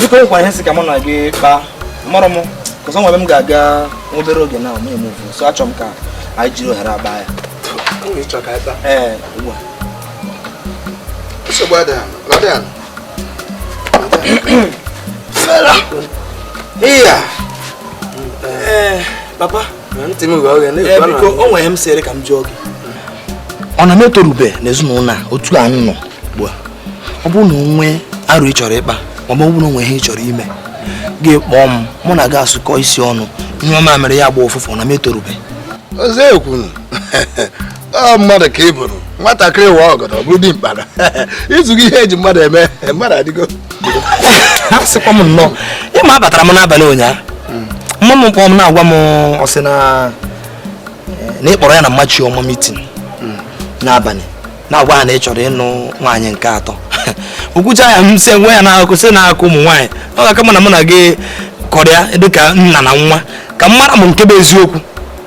biko nkwara ihe si ka mụ na gị kpaa mụrụ m because o nwe ebe m ga-aga obere oge na mụ emove so achọ m ka anyị jiri ohere a kpaa ya ee ugbu a papa ntị m oghe eh, biko o nwe ihe m sịrị ka m jụọ gị ọ na m etorube n'ezinụlọ a otu a nọ ugbu a ọ bụrụ na o nwe aro ị chọrọ ịkpa ma ọ bụrụ na o nwe ihe ị chọrọ ime gị kpọọ m mụ na gị asụkọ isi ọnụ nyụọ mamịrị ya gba ụfụfụ na m etorube ọzọ ekwunu ọ mmadụ ka ị bụrụ nwatakịrị waa ọgọdọ bụrụ dimkpa i zugo ihe e ji mmadụ eme mmadụ adịgo ha sịkwa m nnọọ ị ma abatara m n'abalị ụnyaahụ mma m kpọọ m na-agwa m ọ sị na na ị kpọrọ ya na mma chiọma meeting n'abalị na-agwa ha na ị chọrọ ịnụ nwaanyị nke atọ o kwucha ya m sị enwe ihe a na-akọ sị na akụkọ ụmụ nwaanyị ọ ga-aka mma mụ na gị kọrịa dịka nna na nwa ka m mara m nke bụ eziokwu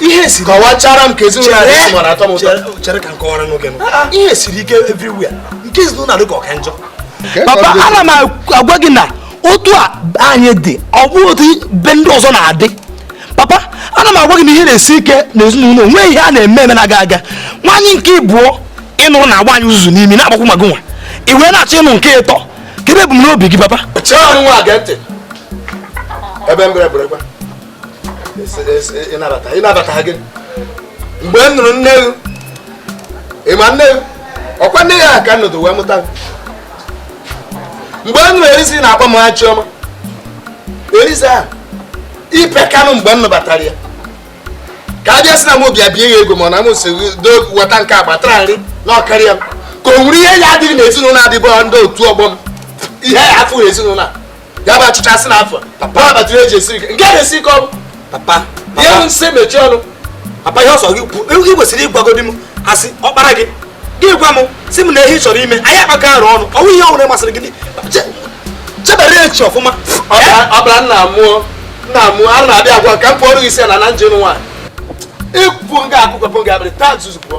ihe siri kọwachara m ka ezinụlọ anyị mara atọ m ụtọ chere ka m kọwara n'oge m ah, ah. ihe siri ike everywhere nke ezinụlọ dị ka ọ ka njọ papa ana m agwa gị na otu a anyị dị ọ bụ otu be ndị ọzọ na-adị papa ana m agwa gị na ihe na-esi ike na ezinụlọ nwee ihe a na-eme eme na-aga aga nwaanyị nke ịbụọ ị nụrụ na-agba anyị uzuzu n'imi na-agbakwu ma gụ nwa i wee na-achọ ịnụ nke ịtọ kedu ebumnobi gị papa ebe mgbe m nụrụ nne gị ị ma nne gị ọkwa nne ya ka nọdụ wee mụta mgbe m nụrụ eliza na-akpọ mama chiọma eliza ahụ ipe kanụ mgbe m nụbatara ya ka a bịa sị na m bịa bie ya ego ma ọ na m si weta nke agbatara nri na ọ karịa m ka o nwere ihe ya adịghị n'ezinụlọ adịbọ ndị otu ọgbọ m ihe ya afụghị ezinụlọ a ya bụ achịcha asị na afọ papa abatụrụ eji esiri nke na-esi ike ọrụ papa ihe m sị mechie ọnụ papa ihe ọ sọ gị kwuo ị kwesịrị ịgwagodi m as ọkpara gị gị gwa m sị m na ihe ị chọrọ ime anyị akpakọ aro ọnụ ọ wụ ihe ọhụrụ masịrị gị chebara echiche ọfụma ọbara nna mụọ nna mụọ a na-abịa agwa ka m kpọọrọ gị isi ala na m je nụ nwaanyị ị kwụ nga akụkọ pụọ nga abịrị taa nzuzu pụọ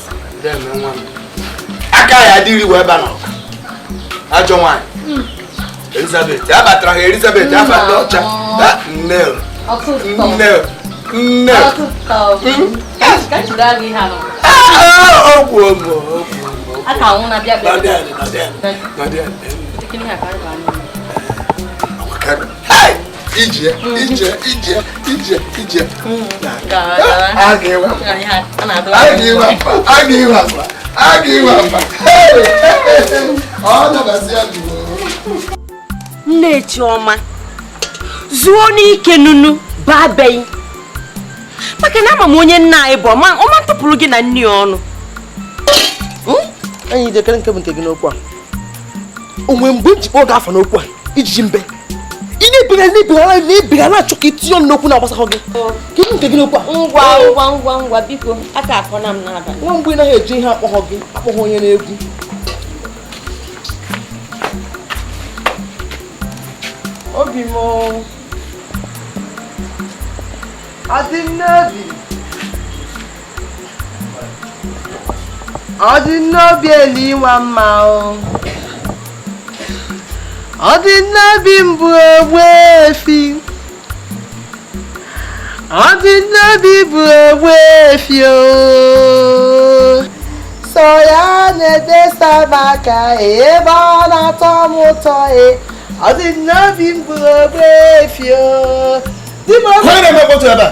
aka ya adịghị iwe ebe a n'ọka ajọ nwaanyị hmm. elizabeth a batara ha elizabeth afa ndị ọcha nne nne nne ọgwụ ọgwụ ọgwụ ije ije ije ije ije aga iwe aga iwe akpa aga iwe akpa ọ nabasị ya jụrụ nne chioma zuo n'ike nunu baa beghị maka na ama m onye nna anyị bụ ọ ma ọ ma atụpụrụ gị na nne ya ọnụ ee ije kedu nke bụ nke gị n'okwu a o nwe mgbe m ji kpọ gị afa n'okwu a ijiji mbe ị na-ebigara na-ebigara na-ebigara na-achọ ka i tinye ọnụ n'okwu na-agbasahọ gị kedu nke gị n'okwu a ngwa ngwa ngwa ngwa biko aka akọ na m n'aba nwa mgbe ị naghị eji ihe akpọghọ gị akpọghọ onye na-egwu obi m ọ dị m n'obi ọ dị n'obi elu ịnwa mma o ọ dị n'obi m bụ ogbuefi ọ dị n'obi bụ ogbuefi o sọ ya na-edesa m aka ebe ọ na-atọ m ụtọ e ọ dị n'obi m bụ ogbuefi o di m ọ na-eme mkpọtụ ebe a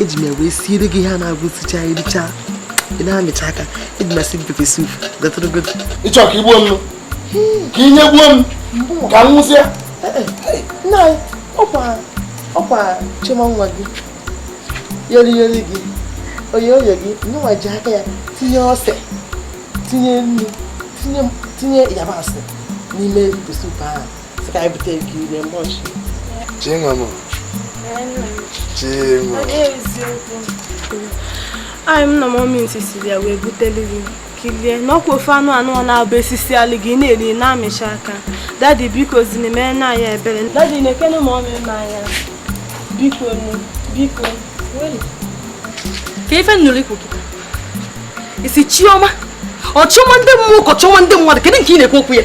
eji m ya wee siere gị ihe a na-abụ e sicha ericha ị na-amịcha aka eji m asị gị pepe sup gọtụrụgodo ị chọ ka i gbuo m ka i nyegbuo m ka m nwụsịa nna anyị ọkwa ọkwa chioma nwa gị yori yori gị oyoyo gị nwa ji aka ya tinye ose tinye nnu tinye yabasị n'ime pepe sup ahụ anyị m na mọmi sisi ya wee butelu gị ka i lie na ọkwa ofe anụ anụ ọ na-abụ e sisịalụ gị ị na-eri na-amịcha aka dadi biko zini mee na anya ebere dadi nekene mọmi anya biko nu biko kee ife m nụrụ i kwu kịta ị sị chioma ọ chioma ndị mmụọ ka ọ chioma ndị mmadụ kedu nke ị na-ekwu okwu ya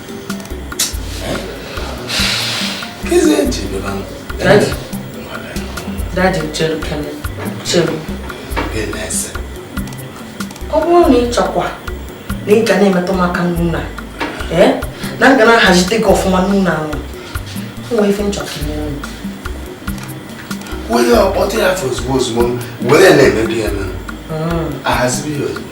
Daddy chere kene chere. Ọ bụrụ na ị chọkwa na ị ga na-emetụ m aka n'ụnọ a, ee, na m ga na-ahazite gị ọfụma n'ụnọ a, o nwere ife m chọ ka i nyere m. Onye ọkpọta ya afọ ozugbo ozugbo were na-emebi ya na-ahazibe ya ozugbo.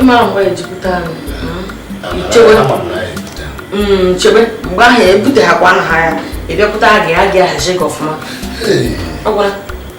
ị mara mgbe e ji pụta chebe mgbe ahụ ebute ha kwa aha ya ị bịakwuta gị ya ga-ahazi gị ọfụma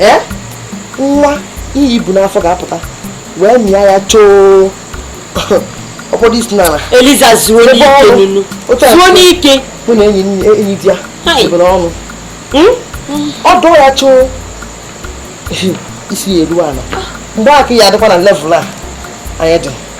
ee nwa ihe i bu n'afọ ga-apụta wee mịa ya choo ọ kpọdo isi n'ala eliza zuo n'ike nunu zuo n'ike mụ na enyidiya ebere ọnụ hmm? ọ dọọ ya choo isi ya eruo ala mgbe aka ya adịkwa na level a anyị dị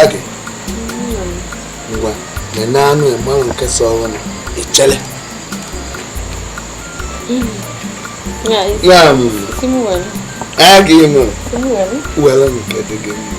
agị ngwa nene anụ ị malụ nke so ọhụrụ i chere ya agị mụ were nke dị gị mma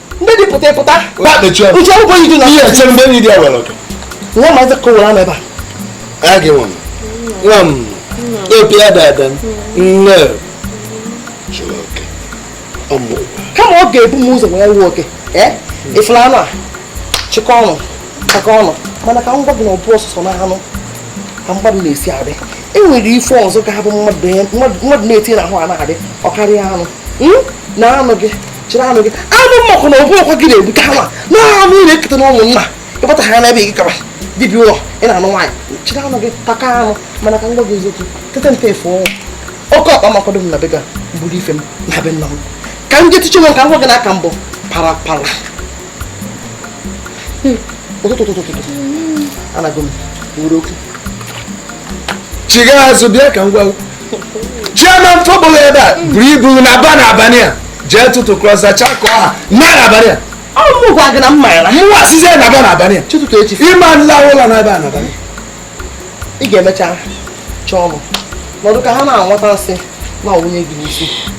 ndị dị pụta ịpụta uche akwụkwọ yi dị na ihe eche mgbe enyidiya were oke nwa ma eze kowere ama ebe a ya gị nwa nwa m epi ya da ada nne chụrụ oke ọmụ kama ọ ga-ebu m ụzọ wee were oke ị fụlụ anụ a chịkọ ọnụ chịkọ ọnụ mana ka m gwa gị na ọ bụrọ sọsọ na anụ ka mmadụ na-esi adị e nwere ife ọzọ ga-abụ mmadụ na-esi n'ahụ a na-adị karịa anụ na anụ gị chịrị anụ gị anụ mmakụ na ọ bụkwa gị na-egbu ka ha na anụ ị na-eketa na ụmụnna ị kpọta ha n'ebe gị kaba dibịa ụlọ ị na-anụ nwaanyị chịrị anụ gị taka anụ mana ka m gwa gị eziokwu tete mpe efe ọnwụ oke ọkpa m akwado m na be ga buru ife m na be nna m ka m jetiche nwe ka m gwa gị n'aka mbụ para para hmm, ụtụtụ ụtụtụ ụtụtụ anago m wuru okwu chiga azụ bịa ka m gwa chairman tọgbọrọ ebe a buru ibu naba na abalị a jee tụtụkọsịchaa ka ọ ha naa na abalị a ọ mụ gwa gị na mma ya na mụwa sizie naba na abalị a chụtụtụ echi ị ma nla ụla na ebe a na abalị ị ga-emecha chọọ ọnụ nọdụ ka ha na-anwata nsị na-awụnye gị n'isi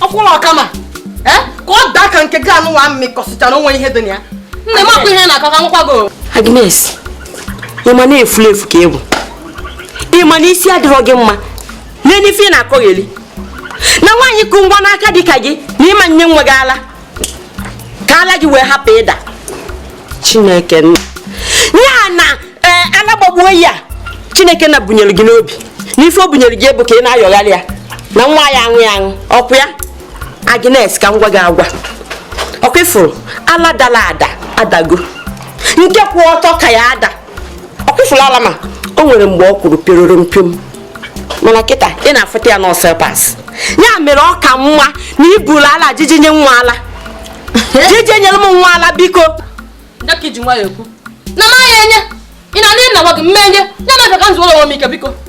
ọ kwụrụ ọ ka mma ka ọ daa ka nke gị anụwa mịkọsịchara o nwee ihe dị na ya nne makwa ihe ị na-akọ ka m gwakwa gị Agnes ị ma na efulefu ka ị bụ ị ma na isi adịrọ gị mma nene ife ị na-akọgheli na nwaanyị ku nwa n'aka dị ka gị na ị ma nye nwa gị ala ka ala gị wee hapụ ịda chineke nna ya na eh, ala gbogbo a chineke nna bunyere gị n'obi n'ife o bunyere gị bụ ka ị na-ayọgharị ya na nwa ya aṅụ ya aṅụ okwu ya agnes ka m gwa gị agwa ọ kwa ị fụrụ ala dara ada adago nke kwụ ọtọ ka ya-ada ọ kwa ị fụlụ ala m a o nwere mgbe ọ kwụrụ pịororo mpiom mana kịta ị na-afụta ya na ọ slippers ya mere ọ ka mma na i buru ala jeje nye nwa ala jeje nyere m nwa ala biko ya ka i ji nwayọ ekwu na m aya enye ị na-adị na-agwa gị m ma enye ya na-efe ka m zuwere onwe m ike biko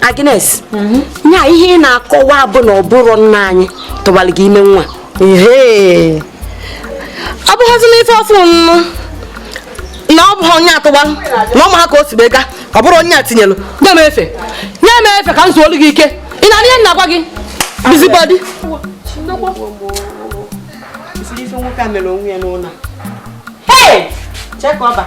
Agnes mhm. nya ihe ị na-akọwa bụ na ọ bụrụ nna anyị tụbara gị ime nwa ehe ọ bụghịzi n'ife ọfụ nnụ na ọ bụghị onye a tụbara na ọ ma ha ka o si bega ọ bụrụ onye a tinyelụ nye m efe nye m efe ka m zuolu gị ike ị na-anụ ihe m na-agwa gị busybody Hey! Check over.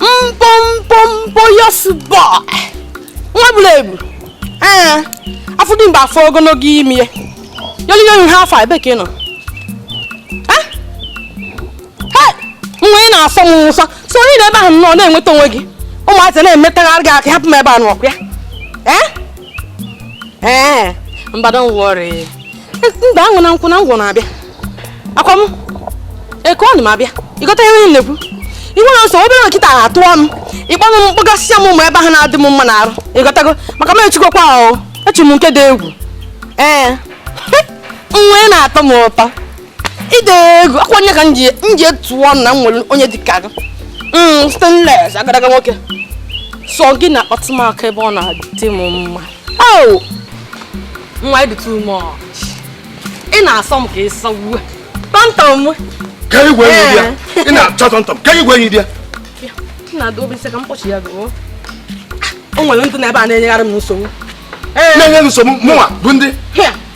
mkpomkpomkpo yes boy nwa buru ibu ee afọ dị mgbe afọ ogologo imi ya yoliyoyi ha afọ ebe ka ị nọ nwa ị na-asọ m ụsọ so ị nọ ebe ahụ nọ na-enweta onwe gị ụmụazị na-emetụgharị gị aka hapụ m ebe a nọkwa ya ee ee mba don worry mba aṅụ na nkwụ na ngwọ na-abịa akwa m eke ọnụ m abịa ị ghọta ihe m na-ekwu iwe na nsọ obere nkịta ha atụọ m ị kpọnụ m mkpọgasịa m ụmụ ebe ahụ na-adị m mma n'arụ ị ghọtago maka m echikọkwa ahụ echi m nke dị egwu ee nwa ị na-atọ m ụtọ ị dị egwu akwa onye ka m ji etu ọnụ na m nwere onye dị ka gị mm, stainless agadaga nwoke sọ gị na-akpọtụ m aka ebe ọ na-adị m mma Oh! Nwa ị dị too much. Ị na-asọ m ka ị sọgbuo. Tọntọm m. Ka igwe enyi di ya. Eh. Ị na-achọ tọntọm. Ka igwe enyi di ya. Ị na-adụ obi m sị ka m kpọchi ya gụọ. O nwere ndị nọ ebe a na-enyegharị m nsogbu. Eh. Na-enye nsogbu mụnwa bụ ndị.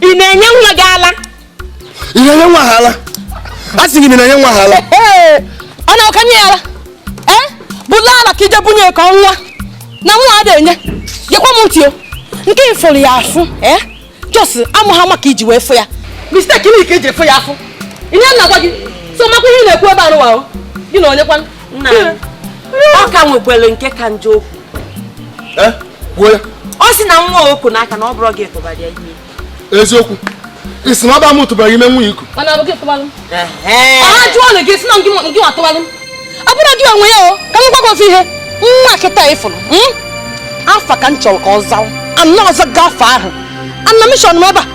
ị na-enye nwa gị ala ị na-enye nwa a ala a sị gị na ị na-enye nwa a ala ee ọ na-akanye ya ala ee bulu ala ka i je bunye ya ka ọ nwa na nwa ada enye gekwa m ntị o nke ị fụrụ ya afụ ee just amụ ha maka iji wee fụ ya mistake niile ka e jiri fụ ya afụ ihe m na-agwa gị so makwa ihe ị na-ekwu ebe a nụwa o gị na onye kwanụ ọ ka nwekwere nke ka njọ o kwu eh, ọ sị na nwa o ku n'aka na ọ bụrọ gị tụbara ya ime eziokwu ị sị na ọ bụrọ m tụbara ime nwa i ku ọ jụọ ọnụ gị sị na ngị nwa tụbalụ ọ bụrọ gị nwe ya o ka m gwa gị ozi ihe nwa kịta ị fụrụ hmm? afa ka m chọrọ ka ọ zawa ana ọzọ gafe ahụ ana mission m ebe a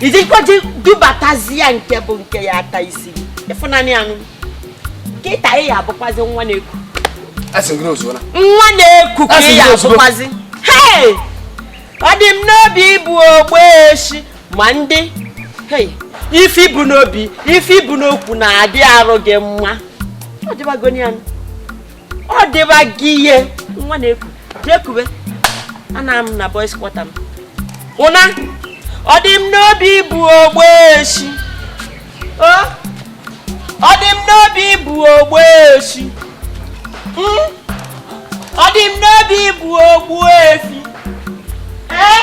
i jikwa ji dubatazi ya nke bụ nke ya ata isi ịfụnanị anụ kịta ị ya abụkwazi nwa na-eku nwa na-eku ka ị ya abụkwazi ọ dị m n'obi bụ ogbe echi ma ndị ife i bu n'obi ife i bu n'okwu na-adị arụ gị mma ọ dịbago ya ọ dịba gị ihe nwa na-eku jee kuwe ana m na boys quarter m ụna ọ dị m n'obi ịbụ ogbueshi ọ dị m n'obi ịbụ ogbueshi hmm? ọ dị m n'obi ịbụ ogbuefi ee eh?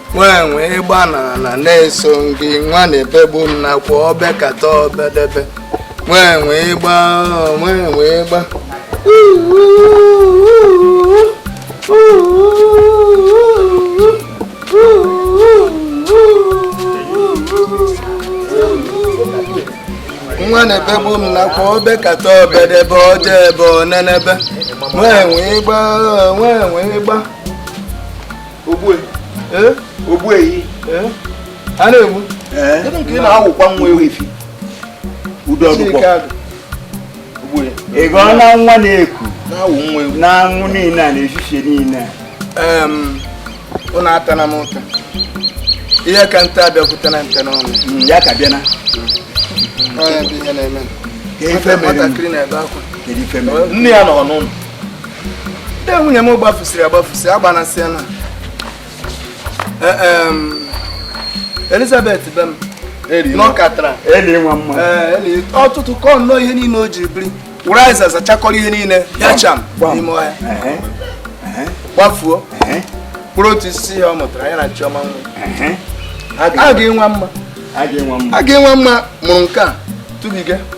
nwenwe ịgba n'ala na-eso gị nwa na-ebegbu m n'akwa o bekata o bedebe nwenwe ịgba nwenwe ịgba nwa na-ebegbu m n'akwa o bekata o bedebe o debe o nenebe nwenwe ịgba nwenwe ịgba ogbu ehi a na-egbu kedu nke ị na-awụkwa nwa ewu ifi udo ọdụkwọ ị gọọ na nwa na-eku n'anwụ niile a n'efifie niile ụnụ atana m ụta ihe ka nte abịakwutena nte n'ọnụ hmm, ya ka bịana nwatakịrị na-ebe akwa nne ya nọ n'ụlọ ndị nwunye m gbafusịrị agbafusị agbanasịana Elizabeth be m nọkatara ụtụtụ kọ nnọọ ihe niile o ji biri were azịza zachakọrọ ihe niile ya cham n'ime ọhịa gbafuo mkpụrụ otu isi ya ọ mụtara ya na Chiọma nwa a ga-enwe mma a ga-enwe mma mụrụ nke a tụbiga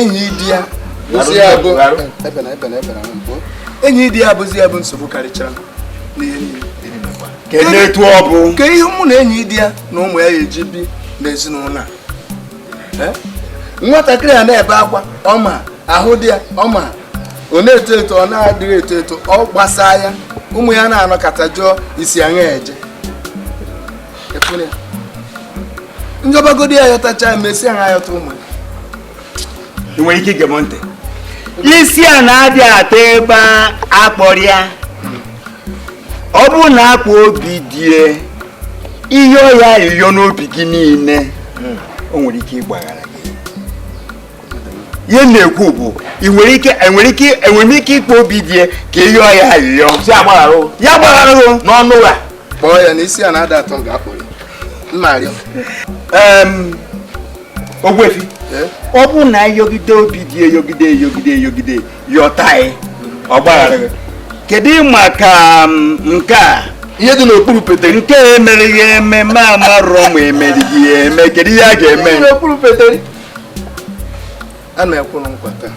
Enyidiya bụzi ya bụ Enyidiya bụzi ya bụ nsogbu karịchara n'ihe niile etu ọ bụ nke ihe mụ na Enyidiya na ụmụ ya eji bi n'ezinụlọ a nwatakịrị a na-ebe akwa ọ ma ahụ dị ya mma ọ na-eto eto ọ na-adịghị eto eto ọ gbasaa ya ụmụ ya na-anọkata jụọ isi aṅa eje m yọbagodi ya yọtacha mesịa yọta ụmụ ị nwere ike ige m ntị isi ana adị atọ ebe a kpọrọ ya ọ bụrụ na a kpọọ Obidie yọọ ya ayịyọ n'obi gị niile o nwere ike ịgbaghara gị ihe m na-ekwu bụ ị nwere ike enwere ike enwere ike ịkpọ Obidie ka ị yọọ ya ayịyọ ya gbaghara n'ọnụ ụgha kpọọ ya na isi ana ada atọ nga a kpọrọ ya mma arịọ ogbuefi eh? ọ bụrụ na ị yọgide Obidie yọgide yọgide yọgide yọta anyị ọ gbaghara gị kedu maka nke a ihe dị n'okpuru peteri nke a emere ya ememe amarọ ma emerighị ya eme kedu ihe a ga-eme n'okpuru peteri a na-ekwuru nkwa taa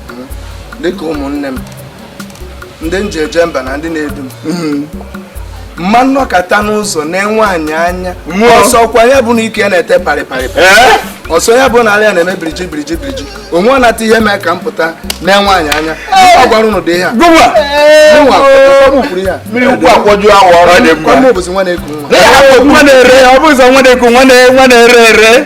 hmm, dịka ụmụnne m ndị m ji eje mba na ndị na-edu m hmm. ma m nọkata n'ụzọ na-ene nwaanyị anya ọ sọkwa ya bụ na ike ya na-ete parịparị ọ sọ ya bụ na ala ya na-eme biriji biriji biriji onwe ọ nata ihe mee ka m pụta na-ene nwaanyị anya ọ gwara ụnụ dị ihe a bụzi nwa na-eku nwa na-ere ere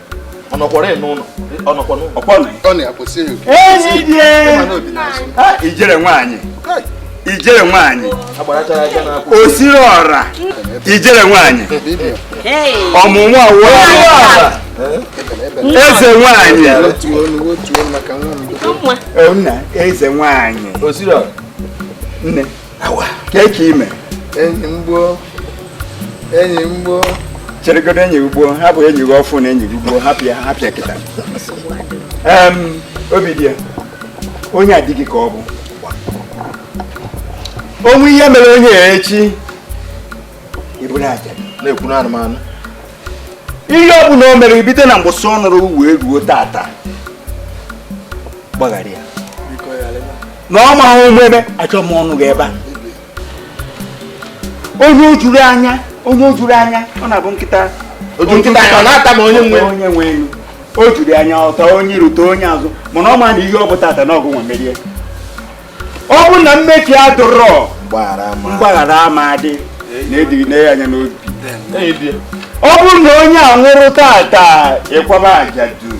ijere nwaanyị ijere nwaanyị osiri ọra ijere nwaanyị ọmụmụ ọra eze nwaanyị eze nwaanyị ime enyi mgbo enyi mgbo cheregodo enyi ugbo ha bụ enyi gị ọfụ na enyi gị ugbo hapịa hapịa kịta obi dị ya onye adịghị ka ọ bụ o nwe ihe mere onye ya echi iburu aja na-ekwuru anụmanụ ihe ọ bụla o mere bido na mbọsị ọ nụrụ wee ruo tata gbaghara ya na ọ ma ahụ ụmụ ebe achọ m ọnụ gị ebe a onye o juru anya onye o juru anya ọ na-abụ nkịta otu nkịta anya ọ na-ata ma onye nwe onye nwe ụnọ o juru anya ọ taa onye iru taa onye azụ mana ọ ma na ihe ọ bụ tata na ọ gịnwa merie ọ bụ na mmehie adịrọ mgbaghara ama adị na edighị na ya anya n'obi ọ bụrụ na onye a nwụrụ tata ị kwaba aja duru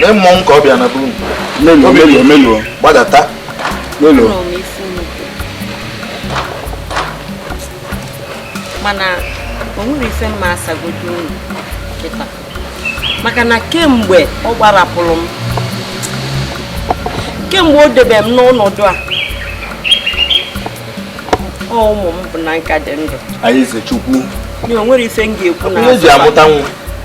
Lee mmọnwụ ka ọ bịa na be unu. Meluo, meluo, meluo. Gbadata. Meluo. Mana o nwere ife m ma-asagodo unu kịta. Maka na kemgbe ọ gbarapụrụ m kemgbe o debe m n'ọnọdụ a ọ ụmụ m bụ na m ka dị ndụ. Anyị Chukwu. Na o nwere ife m ga-ekwu na. Onye ji amụta nwa.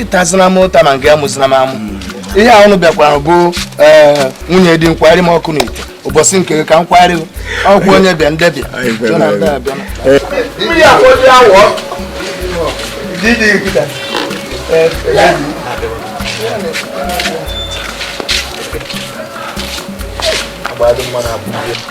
ịtazina m ụta na nke ya mụzina m amụ ihe a ụnụ bịakwara bụ nwunye di m kwari m ọkụ n'ite ụbọchị nke ka m kwari ọkụ onye bịa ndị bịa Thank you.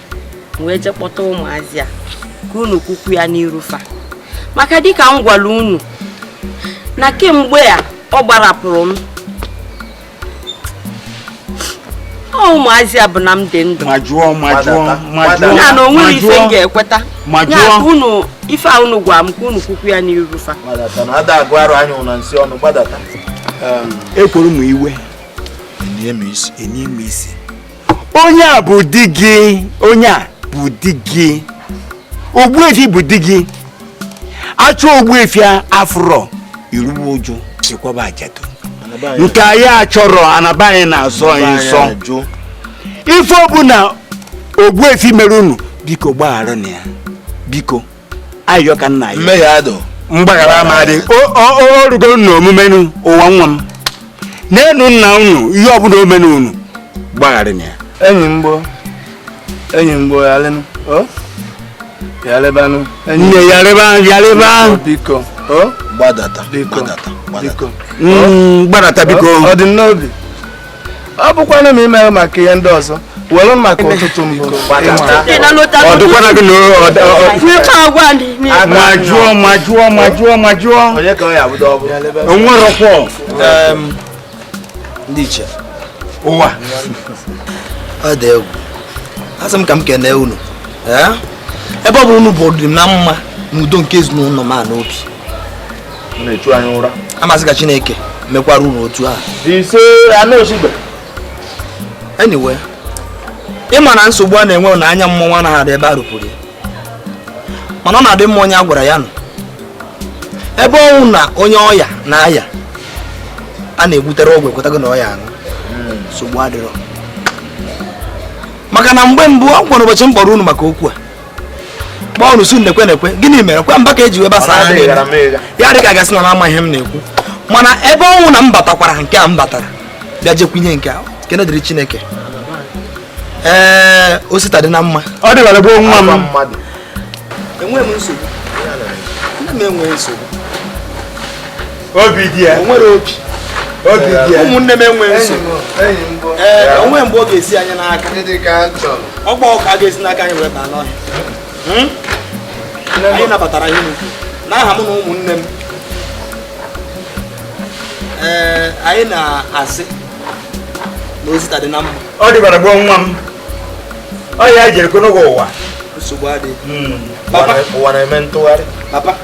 wee je kpọta ụmụazị a ka unu kwukwu ya n'iru fa maka dịka m gwara unu na kemgbe a ọ gbarapụrụ m ọ ụmụazị a bụ na m dị ndụ ya na o nwere ife m ga-ekweta ya ka unu ife a unu gwara m ka unu kwukwu ya n'iru fa ekworo m iwe enye m isi onye a bụ di gị onye a bụ di gị ogbuefi bụ di gị a chọọ ogbuefi afụrọ i ruwe uju i kwaba ajadu nke anyị achọrọ ana be anyị na-asọ ya nsọ ife ọbụla ogbuefi mere unu biko gbagharanụ ya biko ayọ ka nna ya mmehie adịrọ mgbaghara ama adị o rugo na omume ụwa nwa m n'enu nna unu ihe ọbụla o melu unu gbagharanụ ya enyi mgbo enyi mgbo ya lenụ yalịbanụ nne yalịba yalịba biko gbadata gbadata gbadata biko ọ dị n'obi ọ bụkwanụ ma imeghị maka ihe ndị ọzọ were maka ụtụtụ mbụ majụọ majụọ majụọ majụọ o nwerọkwa ndị iche ụwa ọ dị egwu asị m ka m kene unu ebe ọ bụ unu bu ọdị na mma na udo nke ezinụlọ m a n'obi na-echu anyị ụra a m asị ka chineke mekwara unu otu a ise anụ osigbe anyway ị ma na nsogbu a na-enwe na anya mmọnwụ anaghị adị ebe a rụpụrụ ya mana ọ na-adị mma onye a gwara ya nụ ebe ọ wụ na onye ọya na-aya a na-egbutere ọgwụ ekwetago na ọ ya-aṅụ nsogbu adịrọ maka na mgbe mbụ ọkwa ụbọchị m kpọrọ unu maka okwu a kpọọ unu sị nekwe nekwe gịnị mere kwa mba ka e ji wee gbasa ya dị ka a ga-asị na ama ihe m na-ekwu mana ebe ọ wụ na m batakwara nke a m batara bịa jekwu ihe nke a ekene dịrị chineke ee osita dị na mma ọ dịbara gboo nwa m enweghị m nsogbu obi di ya nwere obi obi di ya ụmụnne m enweghị nsogbu ee o nwerọ mgbe ọ ga-esi anyị n'aka ọgba ọka a ga-esi n'aka anyị wee baa n'ọhịa hmm? anyị nabatara ihe unu kwu n'aha m na ụmụnne m ee anyị na-asị na osita dị na mma ọ dịbara gboo nwa m ọ ya jere konogo ụwa nsogbu adịghị hmm. ụwa na-eme ntụgharị papa